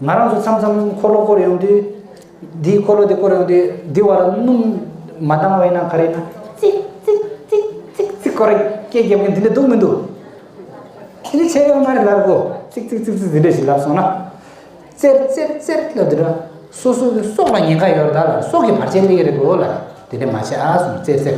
ང་རང་ཚོ་མཚམས་མཚམས་འཁོར་ལོ་བསྐོར་ཡོང་དུས། འདིས་འཁོར་ལོ་དེ་བསྐོར་ཡོང་དུས་འདི་བར་སྣུམ་མ་བཏང་བས་ན་ག་རེ་ན། ཙིག་ཙིག་ཙིག་ཙིག་ཙིག་སྐོར་སྐད་བརྒྱབ་མཁན་དེ་འདྲ་འདུག་མི་འདུག། དེ་ནི་ཚད་ཡོད་མ་རེད་ལབ་གོ། ཙིག་ཙིག་ཙིག་ཙིག་འདི་འདྲ་ཞིག་ལབ་སོང་ན། ཙེར་ཙེར་ཙེར་ལབ་འདི་འདྲ། སོ་སོའི་སྲོག་ལ་ཉེན་ཁ་ཡོད་རེད་ད་ལ་སྲོག་གི་བར་ཆད་སླེབས་ཀྱི་རེད་གོ་ལ། དེ་འདྲ་མ་བྱས་ཨ་གསུངས་ཙེར་ཙེར།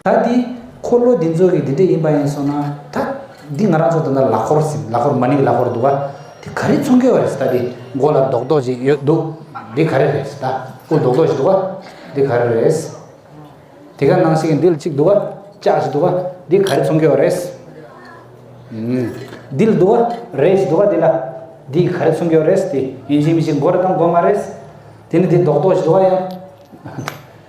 ད་འདི་འཁོར་ལོ་འདི་ཚོ་གི་འདི་འདྲ་ཡིན་པ་ཡིན་སོང་ན་ད། འདི་ང་རང་ཚོ་ད་ལྟ་ལག་འཁོར་ཟིན་ལག་འཁོར་མ་ནིང་ལག་འཁོར་འདུག་ག་དེ་ག་རེ་ཚོང་གི་བ་རེད་ད་འདི་མགོ་ལ་རྡོག་རྡོག་ཅིག་ཡོད་འདུག་འདི་ག་རེ་རེད་ད་སྐུ་རྡོག་རྡོག་ཅིག་འདུག་ག་འདི་ག་རེ་རེད། དེ་ག་ནང་ཞིག་འདི་ལ་ཅིག་འདུག་ག་ལྕགས་ཅིག་འདུག་ག་འདི་ག་རེ་ཚོང་གི་བ་རེད། འདི་ལ་འདུག་ག་རས་ཅིག་འདུག་ག་འདི་ལ་འདི་ག་རེ་ཚོང་གི་བ་རེད་དེ་ཡིན་གཅིག་མིན་གཅིག་མགོ་རེ་དང་མགོ་མ་རེད། དེ་ནི་འདི་རྡོག་རྡོག་ཅིག་འདུག་ག་ཡ།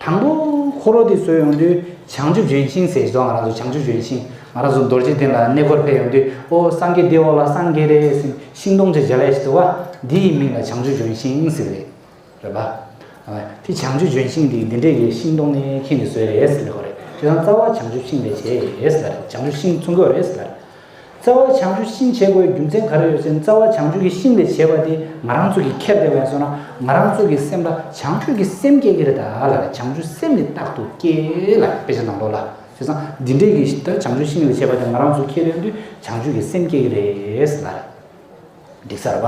དང་པོ། འཁོར་ལོ་འདི་བཟོས་ཡོང་དུས་བྱང་ཆུབ་ལྗོན་ཤིང་ཟེར་རྗེས་ང་རང་ཚོ་བྱང་ཆུབ་ལྗོན་ཤིང་ང་རང་ཚོ་རྡོ་རྗེ་གདན་ལ་གནས་སྐོར་ཕེབས་ཡོང་དུས་ཨོ་སངས་རྒྱས་འདི་འོག་ལ་སངས་རྒྱས་རེད་ཟིན་ཤིང་སྡོང་ཆེ་འཇའ་ལས་བཟོས་བ་འདི་ཡི་མིང་ལ་བྱང་ཆུབ་ལྗོན་ཤིང་ཟེར་བ་རེད། དེ་བྱང་ཆུབ་ལྗོན་ཤིང་འདི་འདི་འདྲས་ཀྱི་ཤིང་སྡོང་ནི་ཁྱེད་ཀྱིས་བཟོས་རེད་ཟེར་ལེ་ཧོ་རེད་དེ་དང་རྩ་བ་བྱང་ཆུབ་ཤིང་ལས་བྱས་རེད་ཟེར་ལ་རེད་བྱང་ཆུབ་ཤིང་ཚུར་འགོད་རེད་ཟེར་ལ་རེད། རྩ་བ་བྱང་ཆུབ་ཤིང་བྱེད་དགོས་རྒྱུ་མཚན་ག་རེ་ཡོད་ཅེ་ན་རྩ་བ་བྱང་ཆུབ་ཀྱི་ཤིང་ལས་བྱས་པ་དེ་ང་རང་ཚོ་གིས་ཁྱེར་ཏེ་བས་སོ་ན་ང་རང་ཚོ་གི་སེམས་ལ་བྱང་ཆུབ་ཀྱི་སེམས་སྐྱེ་གི་རེད་ད་ལ་ལ་བྱང་ཆུབ་སེམས་ནི་རྟག་ཏུ་སྐྱེ་ལ་དཔེ་ཆ་ནང་དོག་ལ་ཤེས་སམ་འདི་འདྲས་ཀྱི་ལྟར་བྱང་ཆུབ་ཤིང་ལས་བྱས་པ་དེ་ང་རང་ཚོ་ཁྱེར་ཡོང་དུས་བྱང་ཆུབ་ཀྱི་སེམས་སྐྱེ་གི་རེད་ལ། འདི་གསར་པ།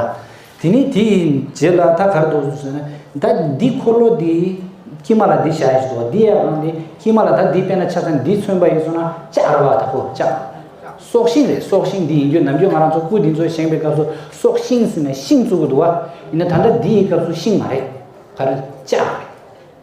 དེ་ནས་དེ་ཡི་རྗེས་ལ་ད་གར་དུ་ཟོས་ན། ད་འདི་འཁོར་ལོ་འདི་ཀྱེ་མ་ལ་འདི་བྱ་ཡིས་སོ་འདི་ཡང་འདི་ཀྱེ་མ་ལ་ད་འདི་བསྟན་ན་ཆ་ཚང་འདི་མཚོན་པ་ཡིས་སོ་ན་ཅག་ར་བ་དག་གོ་ཅག། སྲོག་ཤིང་རེད་སྲོག་ཤིང་འདི་ཡིན་རྒྱུ་ནམ་རྒྱུན་ང་རང་ཚོ་སྐུ་འདི་ཚོ་བཞེངས་པའི་སྐབས་སུ་སྲོག་ཤིང་ཟེར་ནས་ཤིང་བཙུགས་གི་འདུག་བ། ཡིན་ན་ད་ལྟ་འདི་ཡི་སྐབས་སུ་ཤིང་མ་རེད། ག་རེ་ཅག་རེད།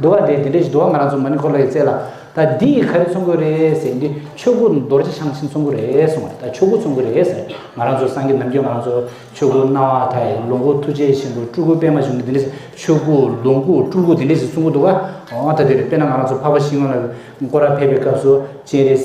འདུ་བ་དེ་དེ་འདྲའི་འདུ་བ་ང་རང་ཚོ་མ་ནི་ཁོ་ལོ་ཡི་རྩེ་ལ་ད་འདི་ཡི་ག་རེ་ཚོང་དགོས་རེད་ཟེར་གྱིན་དུས་ཆོས་སྐུ་རྡོ་རྗེ་འཆང་ཆེན་ཚོང་དགོས་རེད་གསུངས་བ་རེད་ད་ཆོས་སྐུ་ཚོང་དགོས་རེད་ཟེར་ང་རང་ཚོ་སངས་རྒྱས་ནམ་རྒྱུན་ང་རང་ཚོ་ཆོས་སྐུ་སྣང་བ་དག་ཡིན་ལོངས་སྐུ་ཐུགས་རྗེ་ཆེན་པོ་སྤྲུལ་སྐུ་པད་མ་འབྱུང་གི་འདི་འདྲའི་ཆོས་སྐུ་ལོངས་སྐུ་སྤྲུལ་སྐུ་འདི་འདྲའི་ཞིག་ཚོང་གི་འདུག་ག་འོ་ད་དེ་རེད་དཔེར་ན་ང་རང་ཚོ་འཕགས་པ་ཤིང་ལོ་ལ་སྐོར་ར་ཕེབས་པའི་སྐབས་སུ་སྤྱན་རས་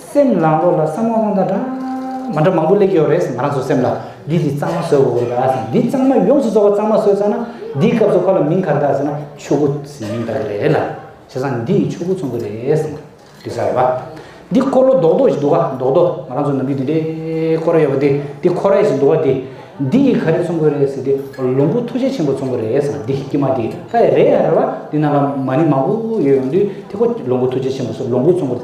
སེམས་ལང་ལོག་ལ་བསམ་ངོ་ལོང་ད་འདྲ། མ་འདྲ་མང་པོ་གླེགས་ཡོད་རེད་ང་རང་ཚོ་སེམས་ལ། འདི་ལི་གཙང་མ་ཟོས་འོ་ཡ་ཟེར་འདི་གཙང་མ་ཡོངས་སུ་བཟོ་བ་གཙང་མ་ཟོས་ཙང་ན་འདིའི་སྐབས་སུ་ཁོ་ལ་མིང་གར་བཏགས་ཟེར་ན་ཆོས་སྐུ་ཟེར་མིང་བཏགས་ཀྱི་རེད་ལ། བྱས་ཙང་འདི་ཡིས་ཆོས་སྐུ་ཚོང་གི་རེད་ཟེར་ན་འགྲིག་ས་རེད་བ། འདི་འཁོར་ལོ་རྡོག་རྡོག་ཞིག་འདུག་ག་རྡོག་རྡོག་ང་རང་ཚོ་ནང་མི་འདི་འདྲའི་འཁོར་ར་ཡོད་པ་འདི་འདི་འཁོར་ར་ཞིག་འདུག་ག་འདི་འདི་ཡིས་ག་རེ་ཚོང་གི་རེད་ཟེར་འདི་ལོང་བུ་ཐུགས་རྗེ་ཆེན་པོ་ཚོང་གི་རེད་ཟེར་ན་འདི་ཀྱི་མ་འདི་ཧ་ཡ་རེད་ཡ་རེད་བ་འདི་ནང་ལ་མ་ནི་མང་པོ་ཡོད་ཡོང་དུས་དེ་ཁོ་ལོང་བུ་ཐུགས་རྗེ་ཆེན་པོ་སོགས་ལོང་བུ་ཚོང་གི་རེད།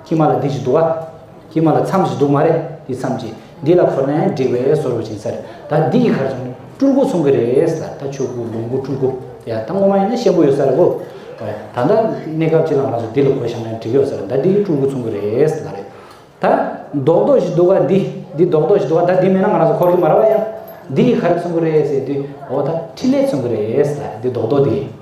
ཁྱི་མ་ལ་འདི་ཅི་འདུག་ཨ། ཁྱི་མ་ལ་མཚམས་ཞིག་འདུག་མ་རེད་འདི་མཚམས་ཀྱི་འདི་ལ་འཁོར་ནས་འགྲིག་བས་ཟོར་བུ་བྱིན་ཟེར་ད་འདི་ཡི་གར་སོང་ནས་སྤྲུལ་སྐུ་ཚོང་གི་རེད་ཟེར་ད་ཆོས་སྐུ་ལོངས་སྐུ་སྤྲུལ་སྐུ་ཡ་ད་སྔོན་མ་ཡིན་ན་ཤེས་མགོ་ཡོད་ས་རེད་བུ། ད་ལྟ་གནས་སྐབས་ཅི་ལ་ང་ཚོ་འདི་ལ་གོ་བཞག་ནས་འགྲིག་ཡོད་ཟེར་ད་འདི་སྤྲུལ་སྐུ་ཚོང་གི་རེད་ཟེར་ད་རེད་ད། རྡོག་རྡོག་ཞིག་འདུག་ཨ་འདི་འདི་རྡོག་རྡོག་ཞིག་འདུག་ཨ་ད་འདི་མེད་ན་ང་རང་ཚོ་འཁོར་གི་མ་རེད་བ་ཡ། འདི་ཡི་གར་ཚོང་གི་རེད་ཟེར་དུས་འོ་ད་འཕྲིན་ལས་ཚོང་གི་རེད་ཟེར་ད་རེད་འདི་རྡོག་རྡོག་འདི།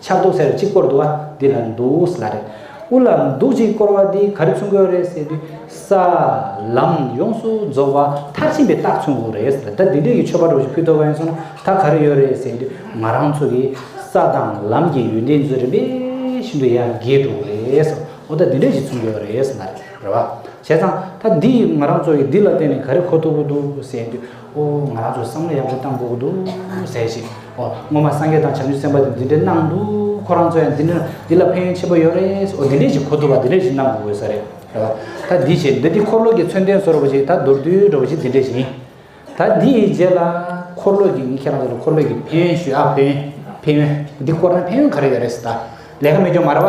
ཕྱག་དུག་སེར་གཅིག་བསྐོར་འདུག་བ་འདི་ལ་འདུག་བཟླ་རེད། དབུ་ལ་འདུག་གཅིག་བསྐོར་བ་འདི་ག་རེ་མཚུངས་ཀྱི་རེད་ཟེར་དུས། ས། ལམ། ཡོངས་སུ་རྫོགས་བ་མཐར་ཕྱིན་པའི་རྟགས་མཚུངས་ཀྱི་རེད་ཟེར་ད་འདི་འདྲའི་ཡུལ་ཆོས་པ་གྲོགས་ཞིག་ཕུད་ཐོབ་བ་ཡིན་སོང་ན་ད་ག་རེ་ཡོད་རེད་ཟེར་དུས་ང་རང་ཚོ་གི་ས་དང་ལམ་གྱི་ཡུལ་འདི་ཚོ་རིམ་པས་ཤིན་ཏུ་ཡར་རྒྱས་འགྲོ་གི་རེད་ཟེར་བ་ད་འདི་འདྲ་ཞིག་མཚུངས་ཀྱི་རེད་ཟེར་ན་རེད་བ། བྱས་ཙང་ད་འདི་ཡིས་ང་རང་ཚོ་གི་འདི་ལ་བརྟེན་ནས་ག་རེ་གོ་ཐུབ་ཀྱི་འདུག་ཟེར་དུས། ཨོ་ང་རང་ཚོ་བསམ་བློ་ཡག་པོ་བཏང་དགོས་ཀྱི་འདུག་ཟེར་ཞིང། ཨོ་སྔོན་མ་སངས་རྒྱས་དང་བྱམས་ཆོས་སེམས་དཔའ་དེ་འདི་འདྲའི་གནང་འདུག་ཁོ་རང་ཚོ་ཡང་འདི་ལ་ཕན་ཡོན་ཆེན་པོ་ཡོད་རེད། ཨོ་འདི་འདྲའི་ཞིག་གོ་ཐུབ་པ་འདི་འདྲའི་ཞིག་གནང་དགོས་ས་རེད། ད་འདི་བྱས་འདི་འདི་འཁོར་ལོ་གྱི་མཚོན་དོན་བཟོ་རོགས་པ་ཞིག་ད་མདོར་བསྡུས་རོགས་པ་ཞིག་འདི་འདྲའི་ཞིག་ཡིན། ད་འདི་ཡི་རྗེས་ལ་འཁོར་ལོ་གྱི་ངས་ཁྱེད་རང་ཚོ་ལ་འཁོར་ལོས་ཀྱི་ཕན་ཡོན་ཞུ་ཨ་ཕན་ཡོན་ཕན་ཡོན་འདི་སྐོར་ན་ཕན་ཡོན་ག་རེ་ཡོད་རེད་ད་ལས་ཀ་མི་སྐྱོང་མ་ར་བ།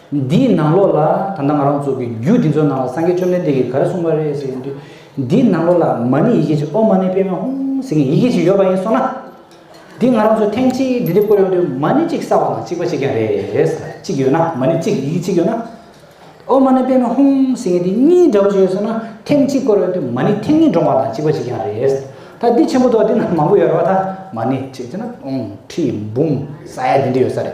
འདིའི་ནང་ལོགས་ལ་ད་ལྟ་ང་རང་ཚོ་གི་རྒྱུད་འདི་ཚོ་ནང་ལ་སངས་རྒྱས་བཅོམ་ལྡན་འདས་ཀྱིས་ག་རེ་གསུངས་པ་རེད་ཟེར་གྱིན་དུས། འདིའི་ནང་ལོགས་ལ་མ་ཎི་ཡི་གེ་གཅིག་ཨོ་མ་ཎི་པད་མ་ཧཱུྃ་ཟེར་གྱིན་ཡི་གེ་གཅིག་ཡོད་པ་ཡིན་སོང་ན། འདི་ང་རང་ཚོ་ཐེངས་གཅིག་འདི་འདྲའི་བཀོད་ཡོང་དུས་མ་ཎི་གཅིག་གསར་བ་དང་གཅིག་པ་གཅིག་ཀྱང་རེད་གཅིག་ཡོད་ན་མ་ཎི་གཅིག་ཡི་གེ་གཅིག་ཡོད་ན། ཨོ་མ་ཎི་པད་མ་ཧཱུྃ་ཟེར་གྱིན་འདི་གཉིས་འདྲ་བོ་ཞིག་ཡོད་སོང་ན་ཐེངས་གཅིག་བཀོད་ཡོང་དུས་མ་ཎི་ཐེངས་གཉིས་འདྲོང་བ་དང་གཅིག་པ་གཅིག་ཀྱང་རེད། ད་འདི་ཆེན་པོ་མདོག་འདི་ནང་མང་པོ་ཡོད་རེད་བ་ད་མ་ཎི་གཅིག་བྱས་ན་སྟོང་ཁྲི་འབུམ་ས་ཡ་འདི་འདྲ་ཡོད་ས་རེད།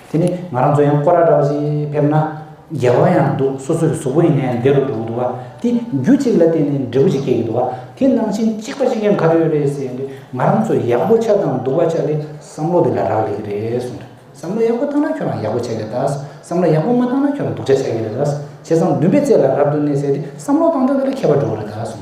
དེ་ནི་ང་རང་ཚོ་ཡང་སྐོར་ར་འདྲ་བ་ཞིག་ཕེབས་ན། རྒྱལ་བ་ཡང་འདུག་སོ་སོའི་གཟུགས་པོ་ཡིན་ནའི་བདེ་རུ་འགྲོ་གི་འདུག་བ་དེ་རྒྱུ་གཅིག་ལ་བརྟེན་ནས་འབྲས་བུ་ཞིག་སྐྱེ་གི་འདུག་བ་དེ་ནང་བཞིན་གཅིག་པ་ཞིག་ཡང་ག་རེ་ཡོད་རེད་ཟེར་ནས་ང་རང་ཚོ་ཡག་པོ་ཆགས་དང་འདུག་བ་ཆགས་ཏེ་བསམ་བློ་དེ་ལ་རག་ལས་ཀྱི་རེད་གསུངས་དོན་བསམ་བློ་ཡག་པོ་བཏང་ན་ཁྱོད་རང་ཡག་པོ་ཆགས་ཀྱི་རེད་བསམ་བློ་ཡག་པོ་མ་བཏང་ན་ཁྱོད་རང་སྡུག་ཆགས་ཆགས་ཀྱི་རེད་བྱས་ཙང་འདུན་པའི་རྩེ་ལ་རབ་ཏུ་གནས་ཟེར་ཏེ་བསམ་བློ་བཏང་ཐོག་དེ་ལ་མཁས་པ་འགྲོ་གི་རེད་གསུངས།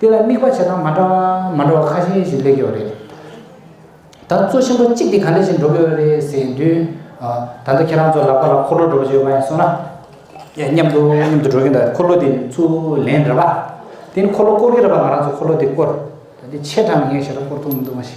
དེ་ལ་དམིགས་པ་བྱེད་སྟངས་མ་འདྲ་བ་མ་འདྲ་བ་ཁ་ཤས་ཤིག་སླེབས་ཀྱི་ཡོད་རེད། ད་གཙོ་ཆེན་པོ་གཅིག་དེ་ག་ལས་ཞིག་འགྲོ་གི་ཡོད་རེད་ཟེར་དུས། ད་ལྟ་ཁྱེད་རང་ཚོ་ལག་པ་ལ་འཁོར་ལོ་འགྲོ་བཞིན་ཡོད་པ་ཡིན་སོང་ན། མཉམ་དུ་མཉམ་དུ་འགྲོ་གིན་འདུག་འཁོར་ལོ་དེ་ཚུར་ལེན་རེད་པ། དེ་ནི་འཁོར་ལོ་བསྐོར་གི་རེད་པ་ང་རང་ཚོ་འཁོར་ལོ་དེ་བསྐོར། ད་དེ་ཆེ་དྲགས་ནས་ངས་ཞེ་དྲགས་བསྐོར་ཐུབ་མི་འདུག་མ་གཞི།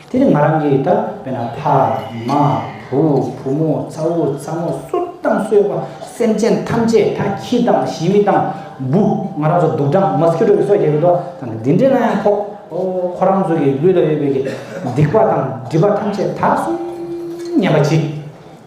དེ་ནི་ང་རང་གིས་ད་བས་ན་ཕ། མ། བུ། བུ་མོ། ཚ་བོ། ཚ་མོ། སུ་དང་གསོད་པ། སེམས་ཅན་ཐམས་ཅད་ད་ཁྱི་དང་བཞི་མི་དང། འབུ། ང་རང་ཚོ་དུག་སྦྲང་མོ་སྐྱུ་བྲོ་གི་སོ་རྒྱག་གི་འདུག་ད་ནི་འདི་འདྲས་ན་ཡང་ཕོག། ཁོ་རང་ཚོ་གི་ལུས་ལ་ཡོད་པའི་གི་སྡིག་པ་དང་སྒྲིབ་པ་ཐམས་ཅད་ད་སོང། སྙམ་པ་གཅིག།